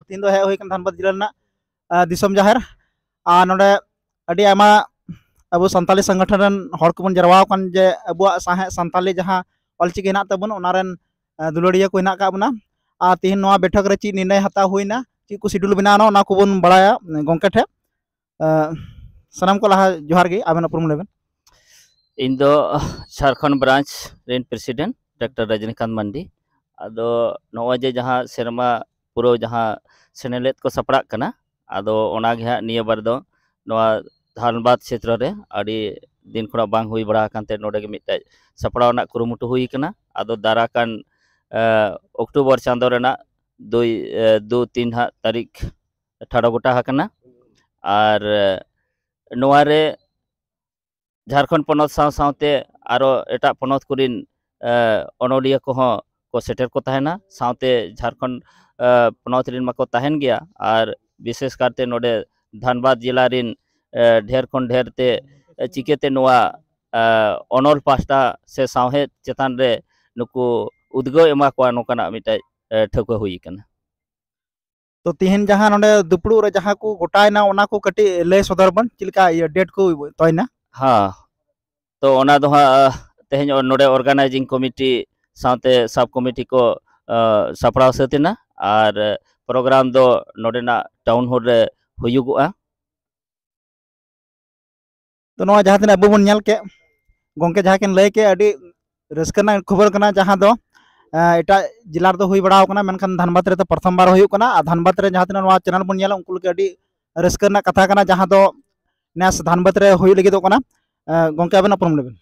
ᱛᱤᱦᱤᱧ ᱫᱚ ᱦᱮᱡ ᱦᱩᱭ ᱠᱟᱱᱟ ᱫᱷᱟᱱᱵᱟᱫᱽ ᱡᱮᱞᱟ ᱨᱮᱱᱟᱜ ᱫᱤᱥᱚᱢ ᱡᱟᱦᱮᱨ ᱟᱨ ᱱᱚᱰᱮ ᱟᱹᱰᱤ ᱟᱭᱢᱟ ᱟᱵᱚ ᱥᱟᱱᱛᱟᱞᱤ ᱥᱚᱝᱜᱚᱴᱷᱚᱱ ᱨᱮᱱ ᱦᱚᱲ ᱠᱚᱵᱚᱱ ᱡᱟᱨᱣᱟ ᱟᱠᱟᱱ ᱡᱮ ᱟᱵᱚᱣᱟᱜ ᱥᱟᱶᱦᱮᱫ ᱥᱟᱱᱛᱟᱞᱤ ᱡᱟᱦᱟᱸ ᱚᱞᱪᱤᱠᱤ ᱦᱮᱱᱟᱜ ᱛᱟᱵᱚᱱ ᱚᱱᱟ ᱨᱮᱱ ᱫᱩᱞᱟᱹᱲᱤᱭᱟᱹ ᱠᱚ ᱦᱮᱱᱟᱜ ᱟᱠᱟᱫ ᱵᱚᱱᱟ ᱟᱨ ᱛᱤᱦᱤᱧ ᱱᱚᱣᱟ ᱵᱮᱴᱷᱚᱠ ᱨᱮ ᱪᱮᱫ ᱱᱤᱨᱱᱚᱭ ᱦᱟᱛᱟᱣ ᱦᱩᱭᱱᱟ ᱪᱮᱫ ᱠᱚ ᱥᱤᱰᱩᱞ ᱵᱮᱱᱟᱣᱱᱟ ᱚᱱᱟ ᱠᱚᱵᱚᱱ ᱵᱟᱲᱟᱭᱟ ᱜᱚᱢᱠᱮ ᱴᱷᱮᱱ ᱥᱟᱱᱟᱢ ᱠᱚ ᱞᱟᱦᱟ ᱡᱚᱦᱟᱨ ᱜᱮ ᱟᱵᱮᱱ ᱩᱯᱨᱩᱢ ᱞᱮᱵᱮᱱ ᱤᱧ ᱫᱚ ᱡᱷᱟᱲᱠᱷᱚᱸᱰ ᱵᱨᱟᱱᱪ ᱨᱮᱱ ᱯᱨᱮᱥᱤᱰᱮᱱᱴ ᱰᱟᱠᱴᱟᱨ ᱨᱟᱡᱤᱱᱤᱠᱟᱱᱛ ᱢᱟᱱᱰᱤ ᱟᱫᱚ ᱱᱚᱜᱼᱚᱭ ᱡᱮ ᱡᱟᱦᱟᱸ ᱥᱮᱨᱢᱟ ᱯᱩᱨᱟᱹᱣ ᱡᱟᱦᱟᱸ ᱥᱮᱱᱮᱞᱮᱫ ᱠᱚ ᱥᱟᱯᱲᱟᱜ ᱠᱟᱱᱟ ᱟᱫᱚ ᱚᱱᱟᱜᱮ ᱦᱟᱸᱜ ᱱᱤᱭᱟᱹ ᱵᱟᱨ ᱫᱚ ᱱᱚᱣᱟ ᱫᱷᱟᱱᱵᱟᱫᱽ ᱠᱷᱮᱛᱨᱚ ᱨᱮ ᱟᱹᱰᱤ ᱫᱤᱱ ᱠᱷᱚᱱᱟᱜ ᱵᱟᱝ ᱦᱩᱭ ᱵᱟᱲᱟ ᱟᱠᱟᱱ ᱛᱮ ᱱᱚᱰᱮ ᱜᱮ ᱢᱤᱫᱴᱮᱡ ᱥᱟᱯᱲᱟᱣ ᱨᱮᱱᱟᱜ ᱠᱩᱨᱩᱢᱩᱴᱩ ᱦᱩᱭ ᱠᱟᱱᱟ ᱟᱫᱚ ᱫᱟᱨᱟ ᱠᱟᱱ ᱚᱠᱴᱳᱵᱚᱨ ᱪᱟᱸᱫᱳ ᱨᱮᱱᱟᱜ ᱫᱩᱭ ᱫᱩ ᱛᱤᱱ ᱦᱟᱸᱜ ᱛᱟᱹᱨᱤᱠᱷ ᱴᱷᱟᱲᱚ ᱜᱚᱴᱟ ᱟᱠᱟᱱᱟ ᱟᱨ ᱱᱚᱣᱟ ᱨᱮ ᱡᱷᱟᱨᱠᱷᱚᱸᱰ ᱯᱚᱱᱚᱛ ᱥᱟᱶ ᱥᱟᱶᱛᱮ ᱟᱨᱚ ᱮᱴᱟᱜ ᱯᱚᱱᱚᱛ ᱠᱚᱨᱮᱱ ᱚᱱᱚᱞᱤᱭᱟᱹ ᱠᱚᱦᱚᱸ ᱠᱚ ᱥᱮᱴᱮᱨ ᱠᱚ ᱛᱟᱦᱮᱱᱟ ᱥᱟᱶᱛᱮ ᱡᱷᱟᱨᱠᱷᱚᱸᱰ ᱯᱚᱱᱚᱛ ᱨᱮᱱ ᱢᱟᱠᱚ ᱛᱟᱦᱮᱱ ᱜᱮᱭᱟ ᱟᱨ ᱵᱤᱥᱮᱥ ᱠᱟᱨᱛᱮ ᱱᱚᱰᱮ ᱫᱷᱟᱱᱵᱟᱫᱽ ᱡᱮᱞᱟ ᱨᱮᱱ ᱰᱷᱮᱨ ᱠᱷᱚᱱ ᱰᱷᱮᱨ ᱛᱮ ᱪᱤᱠᱟᱹᱛᱮ ᱱᱚᱣᱟ ᱚᱱᱚᱞ ᱯᱟᱥᱴᱟ ᱥᱮ ᱥᱟᱶᱦᱮᱫ ᱪᱮᱛᱟᱱ ᱨᱮ ᱱᱩᱠᱩ ᱩᱫᱽᱜᱟᱹᱣ ᱮᱢᱟ ᱠᱚᱣᱟ ᱱᱚᱝᱠᱟᱱᱟᱜ ᱢᱤᱫᱴᱮᱡ ᱴᱷᱟᱹᱣᱠᱟᱹ ᱦᱩᱭ ᱟᱠᱟᱱᱟ ᱛᱚ ᱛᱤᱦᱤᱧ ᱡᱟᱦᱟᱸ ᱱᱚᱰᱮ ᱫᱩᱯᱲᱩᱵ ᱨᱮ ᱡᱟᱦᱟᱸ ᱠᱚ ᱜᱚᱴᱟᱭᱮᱱᱟ ᱚᱱᱟ ᱠᱚ ᱠᱟᱹᱴᱤᱡ ᱞᱟᱹᱭ ᱥᱚᱫᱚᱨ ᱵᱚᱱ ᱪᱮᱫ ᱞᱮᱠᱟ ᱤᱭᱟᱹ ᱰᱮᱴ ᱠᱚ ᱛᱚᱭᱱᱟ ᱦᱮᱸ ᱛᱚ ᱚᱱᱟ ᱫᱚ ᱦᱟᱸᱜ ᱛᱮᱦᱮᱧ ᱱᱚᱰᱮ ᱚᱨᱜᱟᱱᱟᱭᱡᱤᱝ ᱠᱚᱢᱤᱴᱤ ᱥᱟᱶᱛᱮ ᱥᱟᱵ ᱠᱚᱢᱤᱴᱤ ᱠᱚ ᱥᱟᱯᱲᱟᱣ ᱥᱟᱹᱛ ᱮᱱᱟ ᱟᱨ ᱯᱨᱳᱜᱨᱟᱢ ᱫᱚ ᱱᱚᱰᱮᱱᱟᱜ ᱴᱟᱣᱩᱱ ᱦᱚᱞ ᱨᱮ ᱦᱩᱭᱩᱜᱚᱜᱼᱟ ᱛᱚ ᱱᱚᱣᱟ ᱡᱟᱦᱟᱸ ᱛᱤᱱᱟᱹᱜ ᱟᱵᱚ ᱵᱚᱱ ᱧᱮᱞ ᱠᱮᱫ ᱜᱚᱢᱠᱮ ᱡᱟᱦᱟᱸ ᱠᱤᱱ ᱞᱟᱹᱭ ᱠᱮᱫ ᱟᱹᱰᱤ ᱨᱟᱹᱥᱠᱟᱹ ᱨᱮᱱᱟᱜ ᱠᱷᱚᱵᱚᱨ ᱠᱟᱱᱟ ᱡᱟᱦᱟᱸ ᱫᱚ ᱮᱴᱟᱜ ᱡᱮᱞᱟ ᱨᱮᱫᱚ ᱦᱩᱭ ᱵᱟᱲᱟᱣ ᱠᱟᱱᱟ ᱢᱮᱱᱠᱷᱟᱱ ᱫᱷᱟᱱᱵᱟᱫᱽ ᱨᱮᱫᱚ ᱯᱨᱚᱛᱷᱚᱢ ᱵᱟᱨ ᱦᱩᱭᱩᱜ ᱠᱟᱱᱟ ᱟᱨ ᱫᱷᱟᱱᱵᱟᱫᱽ ᱨᱮ ᱡᱟᱦᱟᱸ ᱛᱤᱱᱟᱹᱜ ᱱᱚᱣᱟ ᱪᱮᱱᱮᱞ ᱵᱚᱱ ᱧᱮᱞᱟ ᱩᱱᱠᱩ ᱞᱟᱹᱜᱤᱫ ᱟᱹᱰᱤ ᱨᱟᱹᱥᱠᱟᱹ ᱨᱮᱱᱟᱜ ᱠᱟᱛᱷᱟ ᱠᱟᱱᱟ ᱡᱟᱦᱟᱸ ᱫᱚ ᱱᱮᱥ ᱫᱷᱟᱱᱵᱟᱫᱽ ᱨᱮ ᱦᱩᱭ ᱞᱟᱹᱜᱤᱫᱚᱜ ᱠᱟᱱᱟ ᱜᱚᱢᱠᱮ ᱟᱵᱮᱱᱟᱜ ᱯᱨᱚᱵᱞᱮᱢ ᱞᱟᱹᱭ ᱵᱮᱱ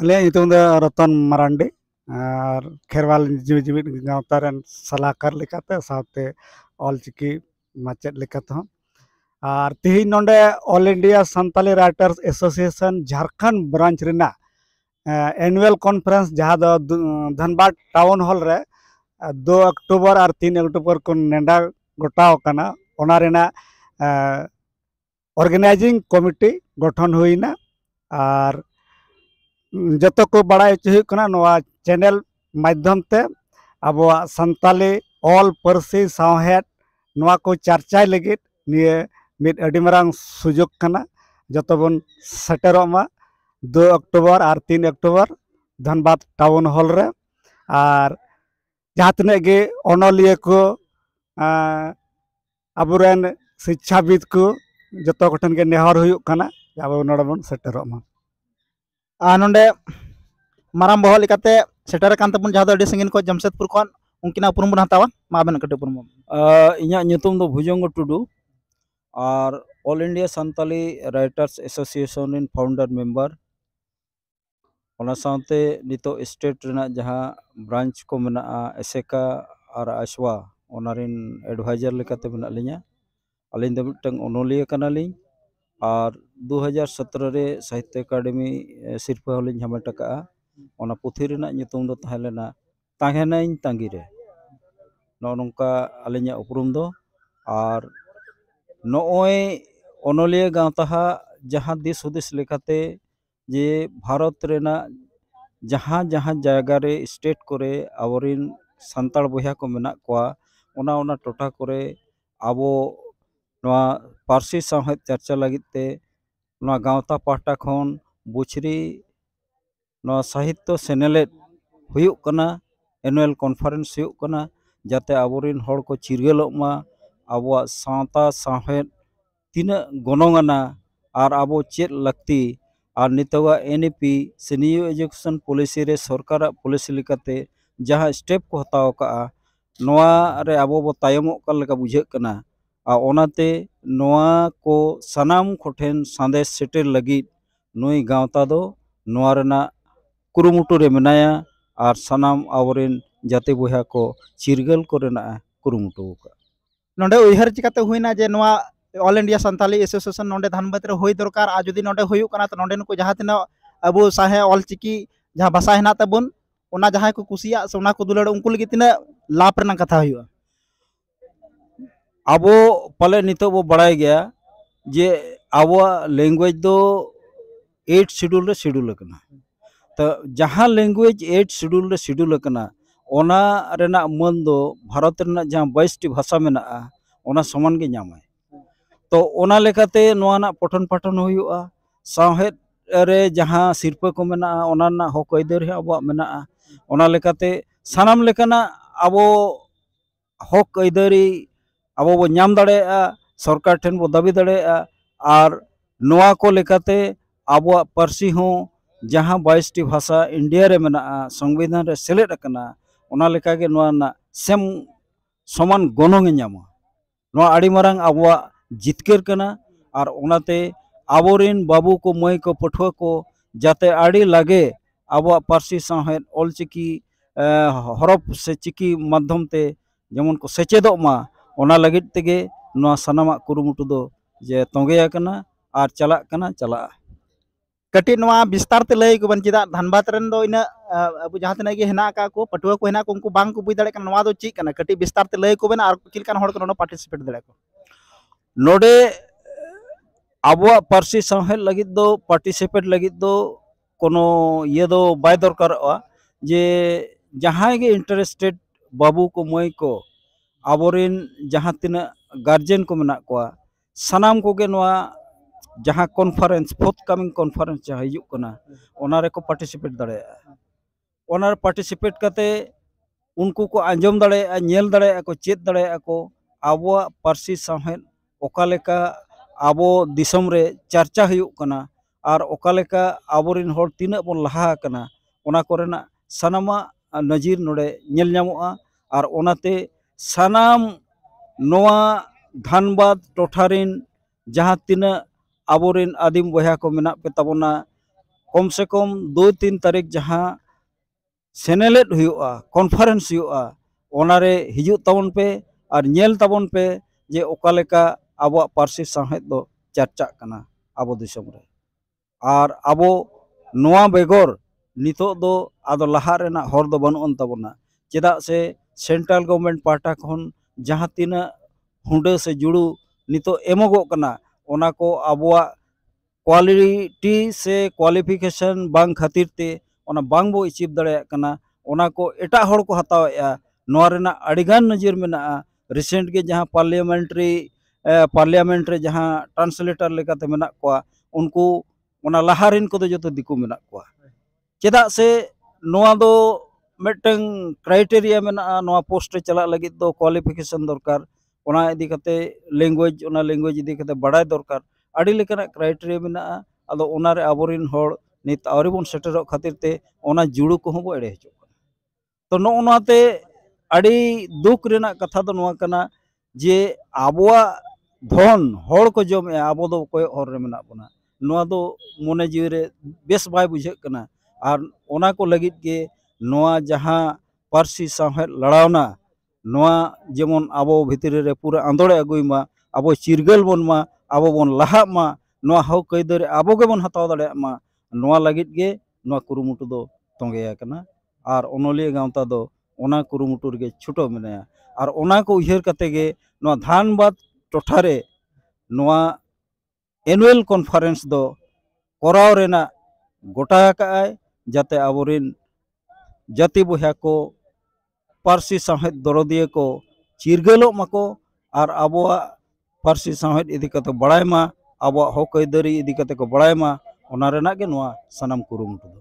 ᱟᱞᱮᱭᱟᱜ ᱧᱩᱛᱩᱢ ᱫᱚ ᱨᱚᱛᱚᱱ ᱢᱟᱨᱟᱱᱰᱤ ᱟᱨ ᱠᱷᱮᱨᱣᱟᱞ ᱡᱤᱣᱤ ᱡᱤᱣᱤᱫ ᱜᱟᱶᱛᱟ ᱨᱮᱱ ᱥᱟᱞᱟᱠᱟᱨ ᱞᱮᱠᱟᱛᱮ ᱥᱟᱶᱛᱮ ᱚᱞ ᱪᱤᱠᱤ ᱢᱟᱪᱮᱫ ᱞᱮᱠᱟ ᱛᱮᱦᱚᱸ ᱟᱨ ᱛᱮᱦᱮᱧ ᱱᱚᱰᱮ all India Santali writers association Jharkhand branch ᱨᱮᱱᱟᱜ ᱮᱱᱩᱭᱟᱞ ᱠᱚᱱᱯᱷᱟᱨᱮᱱᱥ ᱡᱟᱦᱟᱸ ᱫᱚ ᱫᱷᱟᱱᱵᱟᱫᱽ ᱴᱟᱣᱩᱱ ᱦᱚᱞ ᱨᱮ ᱫᱩ ᱚᱠᱴᱳᱵᱚᱨ ᱟᱨ ᱛᱤᱱ ᱚᱠᱴᱳᱵᱚᱨ ᱠᱚ ᱱᱮᱰᱟ ᱜᱚᱴᱟᱣ ᱠᱟᱱᱟ ᱚᱱᱟ ᱨᱮᱱᱟᱜ ᱚᱨᱜᱟᱱᱟᱭᱡᱤᱝ ᱠᱚᱢᱤᱴᱤ ᱜᱚᱴᱷᱚᱱ ᱦᱩᱭᱱᱟ ᱟᱨ ᱡᱚᱛᱚ ᱠᱚ ᱵᱟᱲᱟᱭ ᱦᱚᱪᱚ ᱦᱩᱭᱩᱜ ᱠᱟᱱᱟ ᱱᱚᱣᱟ ᱪᱮᱱᱮᱞ ᱢᱟᱫᱽᱫᱷᱚᱢ ᱛᱮ ᱟᱵᱚᱣᱟᱜ ᱥᱟᱱᱛᱟᱞᱤ ᱚᱞ ᱯᱟᱹᱨᱥᱤ ᱥᱟᱶᱦᱮᱫ ᱱᱚᱣᱟ ᱠᱚ ᱪᱟᱨᱪᱟᱭ ᱞᱟᱹᱜᱤᱫ ᱱᱤᱭᱟᱹ ᱢᱤᱫ ᱟᱹᱰᱤ ᱢᱟᱨᱟᱝ ᱥᱩᱡᱳᱜᱽ ᱠᱟᱱᱟ ᱡᱚᱛᱚ ᱵᱚᱱ ᱥᱮᱴᱮᱨᱚᱜ ᱢᱟ ᱫᱩ ᱚᱠᱴᱳᱵᱚᱨ ᱟᱨ ᱛᱤᱱ ᱚᱠᱴᱳᱵᱚᱨ ᱫᱷᱟᱱᱵᱟᱫᱽ ᱴᱟᱣᱩᱱ ᱦᱚᱞ ᱨᱮ ᱟᱨ ᱡᱟᱦᱟᱸ ᱛᱤᱱᱟᱹᱜ ᱜᱮ ᱚᱱᱚᱞᱤᱭᱟᱹ ᱠᱚ ᱟᱵᱚᱨᱮᱱ ᱥᱤᱪᱪᱷᱟ ᱵᱤᱫ ᱠᱚ ᱡᱚᱛᱚ ᱠᱚᱴᱷᱮᱱ ᱜᱮ ᱱᱮᱦᱚᱨ ᱦᱩᱭᱩᱜ ᱠᱟᱱᱟ ᱟᱵᱚ ᱱᱚᱰᱮ ᱵᱚᱱ ᱥᱮᱴᱮᱨᱚᱜ ᱢᱟ ᱟᱨ ᱱᱚᱰᱮ ᱢᱟᱨᱟᱝ ᱵᱚᱦᱚᱜ ᱞᱮᱠᱟᱛᱮ ᱥᱮᱴᱮᱨ ᱟᱠᱟᱱ ᱛᱟᱵᱚᱱ ᱡᱟᱦᱟᱸ ᱫᱚ ᱟᱹᱰᱤ ᱥᱟᱺᱜᱤᱧ ᱠᱷᱚᱱ ᱡᱟᱢᱥᱮᱫᱽᱯᱩᱨ ᱠᱷᱚᱱ ᱩᱱᱠᱤᱱᱟᱜ ᱩᱯᱨᱩᱢ ᱵᱚᱱ ᱦᱟᱛᱟᱣᱟ ᱢᱟ ᱟᱵᱮᱱᱟᱜ ᱠᱟᱹᱴᱤᱡ ᱩᱯᱨᱩᱢ ᱵᱚᱱ ᱤᱧᱟᱹᱜ ᱧᱩᱛᱩᱢ ᱫᱚ ᱵᱷᱩᱡᱚᱝᱜᱚ ᱴᱩᱰᱩ ᱟᱨ all India Santali writers association ᱨᱮᱱ ᱯᱷᱟᱣᱩᱱᱰᱟᱨ ᱢᱮᱢᱵᱟᱨ ᱚᱱᱟ ᱥᱟᱶᱛᱮ ᱱᱤᱛᱚᱜ ᱥᱴᱮᱴ ᱨᱮᱱᱟᱜ ᱡᱟᱦᱟᱸ ᱵᱨᱟᱱᱪ ᱠᱚ ᱢᱮᱱᱟᱜᱼᱟ ᱮᱥᱮᱠᱟ ᱟᱨ ᱟᱥᱣᱟ ᱚᱱᱟ ᱨᱮᱱ ᱮᱰᱵᱷᱟᱭᱡᱟᱨ ᱞᱮᱠᱟᱛᱮ ᱢᱮᱱᱟᱜ ᱞᱤᱧᱟᱹ ᱟᱹᱞᱤᱧ ᱫᱚ ᱢᱤᱫᱴᱟᱹᱱ ᱚᱱᱚᱞᱤᱭᱟᱹ ᱠᱟᱱᱟᱞᱤᱧ ᱟᱨ ᱫᱩ ᱦᱟᱡᱟᱨ ᱥᱚᱛᱨᱚ ᱨᱮ ᱥᱟᱦᱤᱛᱛᱚ ᱮᱠᱟᱰᱮᱢᱤ ᱥᱤᱨᱯᱟᱹ ᱦᱚᱸᱞᱤᱧ ᱦᱟᱢᱮᱴ ᱟᱠᱟᱫᱼᱟ ᱚᱱᱟ ᱯᱩᱛᱷᱤ ᱨᱮᱱᱟᱜ ᱧᱩᱛᱩᱢ ᱫᱚ ᱛᱟᱦᱮᱸ ᱞᱮᱱᱟ ᱛᱟᱦᱮᱱᱟᱹᱧ ᱛᱟᱺᱜᱤ ᱨᱮ ᱱᱚᱜᱼᱚ ᱱᱚᱝᱠᱟ ᱟᱹᱞᱤᱧᱟᱜ ᱩᱯᱨᱩᱢ ᱫᱚ ᱟᱨ ᱱᱚᱜᱼᱚᱭ ᱚᱱᱚᱞᱤᱭᱟᱹ ᱜᱟᱶᱛᱟ ᱦᱟᱜ ᱡᱟᱦᱟᱸ ᱫᱤᱥ ᱦᱩᱫᱤᱥ ᱞᱮᱠᱟᱛᱮ ᱡᱮ ᱵᱷᱟᱨᱚᱛ ᱨᱮᱱᱟᱜ ᱡᱟᱦᱟᱸ ᱡᱟᱦᱟᱸ ᱡᱟᱭᱜᱟ ᱨᱮ ᱥᱴᱮᱴ ᱠᱚᱨᱮ ᱟᱵᱚ ᱨᱮᱱ ᱥᱟᱱᱛᱟᱲ ᱵᱚᱭᱦᱟ ᱠᱚ ᱢᱮᱱᱟᱜ ᱠᱚᱣᱟ ᱚᱱᱟ ᱚᱱᱟ ᱴᱚᱴᱷᱟ ᱠᱚᱨᱮ ᱟᱵᱚ ᱱᱚᱣᱟ ᱯᱟᱹᱨᱥᱤ ᱥᱟᱶᱦᱮᱫ ᱪᱟᱨᱪᱟ ᱞᱟᱹᱜᱤᱫ ᱛᱮ ᱱᱚᱣᱟ ᱜᱟᱶᱛᱟ ᱯᱟᱦᱴᱟ ᱠᱷᱚᱱ ᱵᱚᱪᱷᱨᱤ ᱱᱚᱣᱟ ᱥᱟᱦᱤᱛᱛᱚ ᱥᱮᱱᱮᱞᱮᱫ ᱦᱩᱭᱩᱜ ᱠᱟᱱᱟ ᱮᱱᱩᱭᱮᱞ ᱠᱚᱱᱯᱷᱟᱨᱮᱱᱥ ᱦᱩᱭᱩᱜ ᱠᱟᱱᱟ ᱡᱟᱛᱮ ᱟᱵᱚ ᱨᱮᱱ ᱦᱚᱲ ᱠᱚ ᱪᱤᱨᱜᱟᱹᱞᱚᱜ ᱢᱟ ᱟᱵᱚᱣᱟᱜ ᱥᱟᱶᱛᱟ ᱥᱟᱶᱦᱮᱫ ᱛᱤᱱᱟᱹᱜ ᱜᱚᱱᱚᱝ ᱟᱱᱟ ᱟᱨ ᱟᱵᱚ ᱪᱮᱫ ᱞᱟᱹᱠᱛᱤ ᱟᱨ ᱱᱤᱛᱚᱜᱟᱜ ᱮᱱ ᱤ ᱯᱤ ᱥᱮ ᱱᱤᱭᱩ ᱮᱰᱩᱠᱮᱥᱚᱱ ᱯᱚᱞᱤᱥᱤ ᱨᱮ ᱥᱚᱨᱠᱟᱨᱟᱜ ᱯᱚᱞᱤᱥᱤ ᱞᱮᱠᱟᱛᱮ ᱡᱟᱦᱟᱸ ᱥᱴᱮᱯ ᱠᱚ ᱦᱟᱛᱟᱣ ᱠᱟᱜᱼᱟ ᱱᱚᱣᱟ ᱨᱮ ᱟᱵᱚ ᱵᱚᱱ ᱛᱟᱭᱚᱢᱚᱜ ᱠᱟᱱ ᱞᱮᱠᱟ ᱵᱩᱡᱷᱟᱹᱜ ᱠᱟᱱᱟ ᱟᱨ ᱚᱱᱟᱛᱮ ᱱᱚᱣᱟ ᱠᱚ ᱥᱟᱱᱟᱢ ᱠᱚᱴᱷᱮᱱ ᱥᱟᱸᱫᱮᱥ ᱥᱮᱴᱮᱨ ᱞᱟᱹᱜᱤᱫ ᱱᱩᱭ ᱜᱟᱶᱛᱟ ᱫᱚ ᱱᱚᱣᱟ ᱨᱮᱱᱟᱜ ᱠᱩᱨᱩᱢᱩᱴᱩ ᱨᱮ ᱢᱮᱱᱟᱭᱟ ᱟᱨ ᱥᱟᱱᱟᱢ ᱟᱵᱚᱨᱮᱱ ᱡᱟᱹᱛᱤ ᱵᱚᱭᱦᱟ ᱠᱚ ᱪᱤᱨᱜᱟᱹᱞ ᱠᱚᱨᱮᱱᱟᱜ ᱮ ᱠᱩᱨᱩᱢᱩᱴᱩ ᱟᱠᱟᱫᱼᱟ ᱱᱚᱰᱮ ᱩᱭᱦᱟᱹᱨ ᱪᱤᱠᱟᱹᱛᱮ ᱦᱩᱭᱱᱟ ᱡᱮ ᱱᱚᱣᱟ ᱚᱞ ᱤᱱᱰᱤᱭᱟ ᱥᱟᱱᱛᱟᱞᱤ ᱮᱥᱳᱥᱤᱭᱮᱥᱚᱱ ᱱᱚᱰᱮ ᱫᱷᱟᱱᱵᱟᱫᱽ ᱨᱮ ᱦᱩᱭ ᱫᱚᱨᱠᱟᱨ ᱟᱨ ᱡᱩᱫᱤ ᱱᱚᱰᱮ ᱦᱩᱭᱩᱜ ᱠᱟᱱᱟ ᱛᱚ ᱱᱚᱰᱮ ᱱᱩᱠᱩ ᱡᱟᱦᱟᱸ ᱛᱤᱱᱟᱹᱜ ᱟᱵᱚ ᱥᱟᱶᱦᱮᱫ ᱚᱞ ᱪᱤᱠᱤ ᱡᱟᱦᱟᱸ ᱵᱷᱟᱥᱟ ᱦᱮᱱᱟᱜ ᱛᱟᱵᱚᱱ ᱚᱱᱟ ᱡᱟᱦᱟᱸᱭ ᱠᱚ ᱠᱩᱥᱤᱭᱟᱜ ᱥᱮ ᱚᱱᱟ ᱠᱚ ᱫᱩᱞᱟᱹᱲ ᱩᱱᱠᱩ ᱞᱟᱹᱜᱤᱫ ᱛᱤᱱᱟᱹᱜ ᱞᱟᱵᱷ ᱨᱮᱱᱟᱜ ᱠᱟᱛᱷᱟ ᱦᱩᱭᱩᱜᱼᱟ ᱟᱵᱚ ᱯᱟᱞᱮ ᱱᱤᱛᱚᱜ ᱵᱚ ᱵᱟᱲᱟᱭ ᱜᱮᱭᱟ ᱡᱮ ᱟᱵᱚᱣᱟᱜ ᱞᱮᱝᱜᱩᱭᱮᱡᱽ ᱫᱚ ᱮᱭᱤᱴ ᱥᱤᱰᱩᱞ ᱨᱮ ᱥᱤᱰᱩᱞ ᱟᱠᱟᱱᱟ ᱛᱚ ᱡᱟᱦᱟᱸ ᱞᱮᱝᱜᱩᱭᱮᱡᱽ ᱮᱭᱤᱴ ᱥᱤᱰᱩᱞ ᱨᱮ ᱥᱤᱰᱩᱞ ᱟᱠᱟᱱᱟ ᱚᱱᱟ ᱨᱮᱱᱟᱜ ᱢᱟᱹᱱ ᱫᱚ ᱵᱷᱟᱨᱚᱛ ᱨᱮᱱᱟᱜ ᱡᱟᱦᱟᱸ ᱵᱟᱭᱤᱥᱴᱤ ᱵᱷᱟᱥᱟ ᱢᱮᱱᱟᱜᱼᱟ ᱚᱱᱟ ᱥᱚᱢᱟᱱ ᱜᱮ ᱧᱟᱢᱟᱭ ᱛᱚ ᱚᱱᱟ ᱞᱮᱠᱟᱛᱮ ᱱᱚᱣᱟ ᱨᱮᱱᱟᱜ ᱯᱚᱴᱷᱚᱱ ᱯᱟᱴᱷᱚᱱ ᱦᱩᱭᱩᱜᱼᱟ ᱥᱟᱶᱦᱮᱫ ᱨᱮ ᱡᱟᱦᱟᱸ ᱥᱤᱨᱯᱟᱹ ᱠᱚ ᱢᱮᱱᱟᱜᱼᱟ ᱚᱱᱟ ᱨᱮᱱᱟᱜ ᱦᱚᱠ ᱟᱹᱭᱫᱟᱹᱨ ᱦᱚᱸ ᱟᱵᱚᱣᱟᱜ ᱢᱮᱱᱟᱜᱼᱟ ᱚᱱᱟ ᱞᱮᱠᱟᱛᱮ ᱥᱟᱱᱟᱢ ᱞᱮᱠᱟᱱᱟᱜ ᱟᱵᱚ ᱦᱚᱠ ᱟᱹᱭᱫᱟᱹᱨᱤ ᱟᱵᱚ ᱵᱚ ᱧᱟᱢ ᱫᱟᱲᱮᱭᱟᱜᱼᱟ ᱥᱚᱨᱠᱟᱨ ᱴᱷᱮᱱ ᱵᱚ ᱫᱟᱹᱵᱤ ᱫᱟᱲᱮᱭᱟᱜᱼᱟ ᱟᱨ ᱱᱚᱣᱟ ᱠᱚ ᱞᱮᱠᱟᱛᱮ ᱟᱵᱚᱣᱟᱜ ᱯᱟᱹᱨᱥᱤ ᱦᱚᱸ ᱡᱟᱦᱟᱸ ᱵᱟᱭᱤᱥᱴᱤ ᱵᱷᱟᱥᱟ ᱤᱱᱰᱤᱭᱟ ᱨᱮ ᱢᱮᱱᱟᱜᱼᱟ ᱥᱚᱝᱵᱤᱫᱷᱟᱱ ᱨᱮ ᱥᱮᱞᱮᱫ ᱟᱠᱟᱱᱟ ᱚᱱᱟ ᱞᱮᱠᱟᱜᱮ ᱱᱚᱣᱟ ᱨᱮᱱᱟᱜ ᱥᱮᱢ ᱥᱚᱢᱟᱱ ᱜᱚᱱᱚᱝ ᱮ ᱧᱟᱢᱟ ᱱᱚᱣᱟ ᱟᱹᱰᱤ ᱢᱟᱨᱟᱝ ᱟᱵᱚᱣᱟᱜ ᱡᱤᱛᱠᱟᱹᱨ ᱠᱟᱱᱟ ᱟᱨ ᱚᱱᱟᱛᱮ ᱟᱵᱚᱨᱮᱱ ᱵᱟᱹᱵᱩ ᱠᱚ ᱢᱟᱹᱭ ᱠᱚ ᱯᱟᱹᱴᱷᱩᱣᱟᱹ ᱠᱚ ᱡᱟᱛᱮ ᱟᱹᱰᱤ ᱞᱟᱜᱮ ᱟᱵᱚᱣᱟᱜ ᱯᱟᱹᱨᱥᱤ ᱥᱟᱶᱦᱮᱫ ᱚᱞᱪᱤᱠᱤ ᱦᱚᱨᱚᱯ ᱥᱮ ᱪᱤᱠᱤ ᱢᱟᱫᱽᱫᱷᱚᱢ ᱛᱮ ᱡᱮᱢᱚᱱ ᱠᱚ ᱥᱮᱪᱮᱫᱚᱜ ᱢᱟ ᱚᱱᱟ ᱞᱟᱹᱜᱤᱫ ᱛᱮᱜᱮ ᱱᱚᱣᱟ ᱥᱟᱱᱟᱢᱟᱜ ᱠᱩᱨᱩᱢᱩᱴᱩ ᱫᱚ ᱡᱮ ᱛᱚᱸᱜᱮ ᱟᱠᱟᱱᱟ ᱟᱨ ᱪᱟᱞᱟᱜ ᱠᱟᱱᱟ ᱪᱟᱞᱟᱜᱼᱟ ᱠᱟᱹᱴᱤᱡ ᱱᱚᱣᱟ ᱵᱤᱥᱛᱟᱨ ᱛᱮ ᱞᱟᱹᱭ ᱟᱠᱚ ᱵᱮᱱ ᱪᱮᱫᱟᱜ ᱫᱷᱟᱱᱵᱟᱫᱽ ᱨᱮᱱ ᱫᱚ ᱤᱱᱟᱹᱜ ᱟᱵᱚ ᱡᱟᱦᱟᱸ ᱛᱤᱱᱟᱹᱜ ᱜᱮ ᱦᱮᱱᱟᱜ ᱟᱠᱟᱫ ᱠᱚ ᱯᱟᱹᱴᱷᱩᱣᱟᱹ ᱠᱚ ᱦᱮᱱᱟᱜ ᱠᱚ ᱩᱱᱠᱩ ᱵᱟᱝ ᱠᱚ ᱵᱩᱡᱽ ᱫᱟᱲᱮᱭᱟᱜ ᱠᱟᱱᱟ ᱱᱚᱣᱟ ᱫᱚ ᱪᱮᱫ ᱠᱟᱱᱟ ᱠᱟᱹᱴᱤᱡ ᱵᱤᱥᱛᱟᱨ ᱛᱮ ᱞᱟᱹᱭ ᱟᱠᱚ ᱵᱮᱱ ᱟᱨ ᱪᱮᱫ ᱞᱮᱠᱟᱱ ᱦᱚᱲ ᱠᱚ ᱱᱚᱰᱮ ᱯᱟᱨᱴᱤᱥᱤᱯᱮᱴ ᱫᱟᱲᱮᱭᱟᱜ ᱠᱚ ᱱᱚᱰᱮ ᱟᱵᱚᱣᱟᱜ ᱯᱟᱹᱨᱥᱤ ᱥᱟᱶᱦᱮᱫ ᱞᱟᱹᱜᱤᱫ ᱫᱚ ᱯᱟᱨᱴᱤᱥᱤᱯᱮᱴ ᱞᱟᱹᱜᱤᱫ ᱫᱚ ᱠᱳᱱᱳ ᱤᱭᱟᱹ ᱫᱚ ᱵᱟᱭ ᱫᱚᱨᱠᱟᱨᱚᱜᱼᱟ ᱡᱮ ᱡᱟᱦᱟᱸᱭ ᱜᱮ ᱤᱱᱴᱟᱨᱮᱥᱴᱮᱰ ᱵᱟᱹᱵᱩ ᱠᱚ ᱢᱟᱹᱭ ᱠᱚ ᱟᱵᱚᱨᱮᱱ ᱡᱟᱦᱟᱸ ᱛᱤᱱᱟᱹᱜ ᱜᱟᱨᱡᱮᱱ ᱠᱚ ᱢᱮᱱᱟᱜ ᱠᱚᱣᱟ ᱥᱟᱱᱟᱢ ᱠᱚᱜᱮ ᱱᱚᱣᱟ ᱡᱟᱦᱟᱸ ᱠᱚᱱᱯᱷᱟᱨᱮᱱᱥ ᱯᱷᱳᱨᱛᱷ ᱠᱟᱢᱤᱝ ᱠᱚᱱᱯᱷᱟᱨᱮᱱᱥ ᱡᱟᱦᱟᱸ ᱦᱤᱡᱩᱜ ᱠᱟᱱᱟ ᱚᱱᱟ ᱨᱮᱠᱚ ᱯᱟᱨᱴᱤᱥᱤᱯᱮᱴ ᱫᱟᱲᱮᱭᱟᱜᱼᱟ ᱚᱱᱟᱨᱮ ᱯᱟᱨᱴᱤᱥᱤᱯᱮᱴ ᱠᱟᱛᱮᱫ ᱩᱱᱠᱩ ᱠᱚ ᱟᱸᱡᱚᱢ ᱫᱟᱲᱮᱭᱟᱜᱼᱟ ᱧᱮᱞ ᱫᱟᱲᱮᱭᱟᱜᱼᱟ ᱠᱚ ᱪᱮᱫ ᱫᱟᱲᱮᱭᱟᱜᱼᱟ ᱠᱚ ᱟᱵᱚᱣᱟᱜ ᱯᱟᱹᱨᱥᱤ ᱥᱟᱶᱦᱮᱫ ᱚᱠᱟ ᱞᱮᱠᱟ ᱟᱵᱚ ᱫᱤᱥᱚᱢ ᱨᱮ ᱪᱟᱨᱪᱟ ᱦᱩᱭᱩᱜ ᱠᱟᱱᱟ ᱟᱨ ᱚᱠᱟ ᱞᱮᱠᱟ ᱟᱵᱚ ᱨᱮᱱ ᱦᱚᱲ ᱛᱤᱱᱟᱹᱜ ᱵᱚᱱ ᱞᱟᱦᱟ ᱟᱠᱟᱱᱟ ᱚᱱᱟ ᱠᱚᱨᱮᱱᱟᱜ ᱥᱟᱱᱟᱢᱟᱜ ᱱᱟᱹᱡᱤᱨ ᱱᱚᱰᱮ ᱧᱮᱞ ᱧᱟᱢᱚᱜᱼᱟ ᱟᱨ ᱚᱱᱟᱛᱮ ᱥᱟᱱᱟᱢ ᱱᱚᱣᱟ ᱫᱷᱟᱱᱵᱟᱫᱽ ᱴᱚᱴᱷᱟ ᱨᱮᱱ ᱡᱟᱦᱟᱸ ᱛᱤᱱᱟᱹᱜ ᱟᱵᱚᱨᱮᱱ ᱟᱹᱫᱤᱢ ᱵᱚᱭᱦᱟ ᱠᱚ ᱢᱮᱱᱟᱜ ᱯᱮ ᱛᱟᱵᱚᱱᱟ ᱠᱚᱢ ᱥᱮ ᱠᱚᱢ ᱫᱩ ᱛᱤᱱ ᱛᱟᱹᱨᱤᱠᱷ ᱡᱟᱦᱟᱸ ᱥᱮᱱᱮᱞᱮᱫ ᱦᱩᱭᱩᱜᱼᱟ ᱠᱚᱱᱯᱷᱟᱨᱮᱱᱥ ᱦᱩᱭᱩᱜᱼᱟ ᱚᱱᱟᱨᱮ ᱦᱤᱡᱩᱜ ᱛᱟᱵᱚᱱ ᱯᱮ ᱟᱨ ᱧᱮᱞ ᱛᱟᱵᱚᱱ ᱯᱮ ᱡᱮ ᱚᱠᱟ ᱞᱮᱠᱟ ᱟᱵᱚᱣᱟᱜ ᱯᱟᱹᱨᱥᱤ ᱥᱟᱶᱦᱮᱫ ᱫᱚ ᱪᱟᱨᱪᱟᱜ ᱠᱟᱱᱟ ᱟᱵᱚ ᱫᱤᱥᱚᱢ ᱨᱮ ᱟᱨ ᱟᱵᱚ ᱱᱚᱣᱟ ᱵᱮᱜᱚᱨ ᱱᱤᱛᱚᱜ ᱫᱚ ᱟᱫᱚ ᱞᱟᱦᱟᱜ ᱨᱮᱱᱟᱜ ᱦᱚᱨ ᱫᱚ ᱵᱟᱹᱱᱩᱜ ᱟᱱ ᱛᱟᱵᱚᱱᱟ ᱪᱮᱫᱟᱜ ᱥᱮ ᱥᱮᱱᱴᱨᱟᱞ ᱜᱚᱵᱷᱢᱮᱱᱴ ᱯᱟᱦᱴᱟ ᱠᱷᱚᱱ ᱡᱟᱦᱟᱸ ᱛᱤᱱᱟᱹᱜ ᱦᱩᱰᱟᱹ ᱥᱮ ᱡᱩᱲᱩ ᱱᱤᱛᱚᱜ ᱮᱢᱚᱜᱚᱜ ᱠᱟᱱᱟ ᱚᱱᱟ ᱠᱚ ᱟᱵᱚᱣᱟᱜ ᱠᱚᱣᱟᱞᱤᱴᱤ ᱥᱮ ᱠᱚᱣᱟᱞᱤᱯᱷᱤᱠᱮᱥᱚᱱ ᱵᱟᱝ ᱠᱷᱟᱹᱛᱤᱨ ᱛᱮ ᱚᱱᱟ ᱵᱟᱝ ᱵᱚᱱ ᱮᱪᱤᱵᱷ ᱫᱟᱲᱮᱭᱟᱜ ᱠᱟᱱᱟ ᱚᱱᱟ ᱠᱚ ᱮᱴᱟᱜ ᱦᱚᱲ ᱠᱚ ᱦᱟᱛᱟᱣᱮᱫᱼᱟ ᱱᱚᱣᱟ ᱨᱮᱱᱟᱜ ᱟᱹᱰᱤᱜᱟᱱ ᱱᱚᱡᱤᱨ ᱢᱮᱱᱟᱜᱼᱟ ᱨᱤᱥᱮᱱᱴ ᱜᱮ ᱡᱟᱦᱟᱸ ᱯᱟᱨᱞᱤᱭᱟᱢᱮᱱᱴᱨᱤ ᱯᱟᱨᱞᱤᱭᱟᱢᱮᱱᱴ ᱨᱮ ᱡᱟᱦᱟᱸ ᱴᱨᱟᱱᱥᱞᱮᱴᱟᱨ ᱞᱮᱠᱟᱛᱮ ᱢᱮᱱᱟᱜ ᱠᱚᱣᱟ ᱩᱱᱠᱩ ᱚᱱᱟ ᱞᱟᱦᱟ ᱨᱮᱱ ᱠᱚᱫᱚ ᱡᱚᱛᱚ ᱫᱤᱠᱩ ᱢᱮᱱᱟᱜ ᱠᱚᱣᱟ ᱪᱮᱫᱟᱜ ᱥᱮ ᱱᱚᱣᱟ ᱫᱚ ᱢᱤᱫᱴᱟᱝ ᱠᱨᱟᱭᱴᱮᱨᱤᱭᱟ ᱢᱮᱱᱟᱜᱼᱟ ᱱᱚᱣᱟ ᱯᱳᱥᱴ ᱨᱮ ᱪᱟᱞᱟᱜ ᱞᱟᱹᱜᱤᱫ ᱫᱚ ᱠᱳᱣᱟᱞᱤᱯᱷᱤᱠᱮᱥᱚᱱ ᱫᱚᱨᱠᱟᱨ ᱚᱱᱟ ᱤᱫᱤ ᱠᱟᱛᱮ ᱞᱮᱝᱜᱩᱭᱮᱡᱽ ᱚᱱᱟ ᱞᱮᱝᱜᱩᱭᱮᱡᱽ ᱤᱫᱤ ᱠᱟᱛᱮ ᱵᱟᱲᱟᱭ ᱫᱚᱨᱠᱟᱨ ᱟᱹᱰᱤ ᱞᱮᱠᱟᱱᱟᱜ ᱠᱨᱟᱭᱴᱮᱨᱤᱭᱟ ᱢᱮᱱᱟᱜᱼᱟ ᱟᱫᱚ ᱚᱱᱟᱨᱮ ᱟᱵᱚᱨᱮᱱ ᱦᱚᱲ ᱱᱤᱛ ᱟᱹᱣᱨᱤ ᱵᱚᱱ ᱥᱮᱴᱮᱨᱚᱜ ᱠᱷᱟᱹᱛᱤᱨ ᱛᱮ ᱚᱱᱟ ᱡᱩᱲᱩ ᱠᱚᱦᱚᱸ ᱵᱚᱱ ᱮᱲᱮ ᱦᱚᱪᱚᱜ ᱠᱟᱱᱟ ᱛᱚ ᱱᱚᱜᱼᱚ ᱱᱚᱣᱟᱛᱮ ᱟᱹᱰᱤ ᱫᱩᱠ ᱨᱮᱱᱟᱜ ᱠᱟᱛᱷᱟ ᱫᱚ ᱱᱚᱣᱟ ᱠᱟᱱᱟ ᱡᱮ ᱟᱵᱚᱣᱟᱜ ᱫᱷᱚᱱ ᱦᱚᱲ ᱠᱚ ᱡᱚᱢᱮᱜᱼᱟ ᱟᱵᱚ ᱫᱚ ᱠᱚᱭᱚᱜ ᱦᱚᱨ ᱨᱮ ᱢᱮᱱᱟᱜ ᱵᱚᱱᱟ ᱱᱚᱣᱟ ᱫᱚ ᱢᱚᱱᱮ ᱡᱤᱣᱤ ᱨᱮ ᱵᱮᱥ ᱵᱟᱭ ᱵᱩᱡᱷᱟᱹᱜ ᱠᱟᱱᱟ ᱟᱨ ᱚᱱᱟ ᱠᱚ ᱞᱟᱹᱜᱤᱫ ᱜᱮ ᱱᱚᱣᱟ ᱡᱟᱦᱟᱸ ᱯᱟᱹᱨᱥᱤ ᱥᱟᱶᱦᱮᱫ ᱞᱟᱲᱟᱣᱱᱟ ᱱᱚᱣᱟ ᱡᱮᱢᱚᱱ ᱟᱵᱚ ᱵᱷᱤᱛᱨᱤ ᱨᱮ ᱯᱩᱨᱟᱹ ᱟᱸᱫᱚᱲᱮ ᱟᱹᱜᱩᱭ ᱢᱟ ᱟᱵᱚ ᱪᱤᱨᱜᱟᱹᱞ ᱵᱚᱱ ᱢᱟ ᱟᱵᱚ ᱵᱚᱱ ᱞᱟᱦᱟᱜ ᱢᱟ ᱱᱚᱣᱟ ᱦᱚᱠ ᱟᱹᱭᱫᱟᱹᱨ ᱟᱵᱚ ᱜᱮᱵᱚᱱ ᱦᱟᱛᱟᱣ ᱫᱟᱲᱮᱭᱟᱜ ᱢᱟ ᱱᱚᱣᱟ ᱞᱟᱹᱜᱤᱫ ᱜᱮ ᱱᱚᱣᱟ ᱠᱩᱨᱩᱢᱩᱴᱩ ᱫᱚ ᱛᱚᱸᱜᱮ ᱟᱠᱟᱱᱟ ᱟᱨ ᱚᱱᱚᱞᱤᱭᱟᱹ ᱜᱟᱶᱛᱟ ᱫᱚ ᱚᱱᱟ ᱠᱩᱨᱩᱢᱩᱴᱩ ᱨᱮᱜᱮ ᱪᱷᱩᱴᱟᱹᱣ ᱢᱮᱱᱟᱭᱟ ᱟᱨ ᱚᱱᱟ ᱠᱚ ᱩᱭᱦᱟᱹᱨ ᱠᱟᱛᱮ ᱜᱮ ᱱᱚᱣᱟ ᱫᱷᱟᱱᱵᱟᱫᱽ ᱴᱚᱴᱷᱟ ᱨᱮ ᱱᱚᱣᱟ ᱮᱱᱩᱭᱮᱞ ᱠᱚᱱᱯᱷᱟᱨᱮᱱᱥ ᱫᱚ ᱠᱚᱨᱟᱣ ᱨᱮᱱᱟᱜ ᱜᱚᱴᱟ ᱟᱠᱟᱫ ᱟᱭ ᱡᱟᱛᱮ ᱟᱵᱚ ᱨᱮᱱ ᱡᱟᱹᱛᱤ ᱵᱚᱭᱦᱟ ᱠᱚ ᱯᱟᱹᱨᱥᱤ ᱥᱟᱶᱦᱮᱫ ᱫᱚᱨᱚᱫᱤᱭᱟᱹ ᱠᱚ ᱪᱤᱨᱜᱟᱹᱞᱚᱜ ᱢᱟᱠᱚ ᱟᱨ ᱟᱵᱚᱣᱟᱜ ᱯᱟᱹᱨᱥᱤ ᱥᱟᱶᱦᱮᱫ ᱤᱫᱤ ᱠᱟᱛᱮ ᱵᱟᱲᱟᱭ ᱢᱟ ᱟᱵᱚᱣᱟᱜ ᱦᱚᱸᱠ ᱟᱹᱭᱫᱟᱹᱨᱤ ᱤᱫᱤ ᱠᱟᱛᱮ ᱠᱚ ᱵᱟᱲᱟᱭ ᱢᱟ ᱚᱱᱟ ᱨᱮᱱᱟᱜ ᱜᱮ ᱱᱚᱣᱟ ᱥᱟᱱᱟᱢ ᱠᱩᱨᱩᱢᱩᱴᱩ ᱫᱚ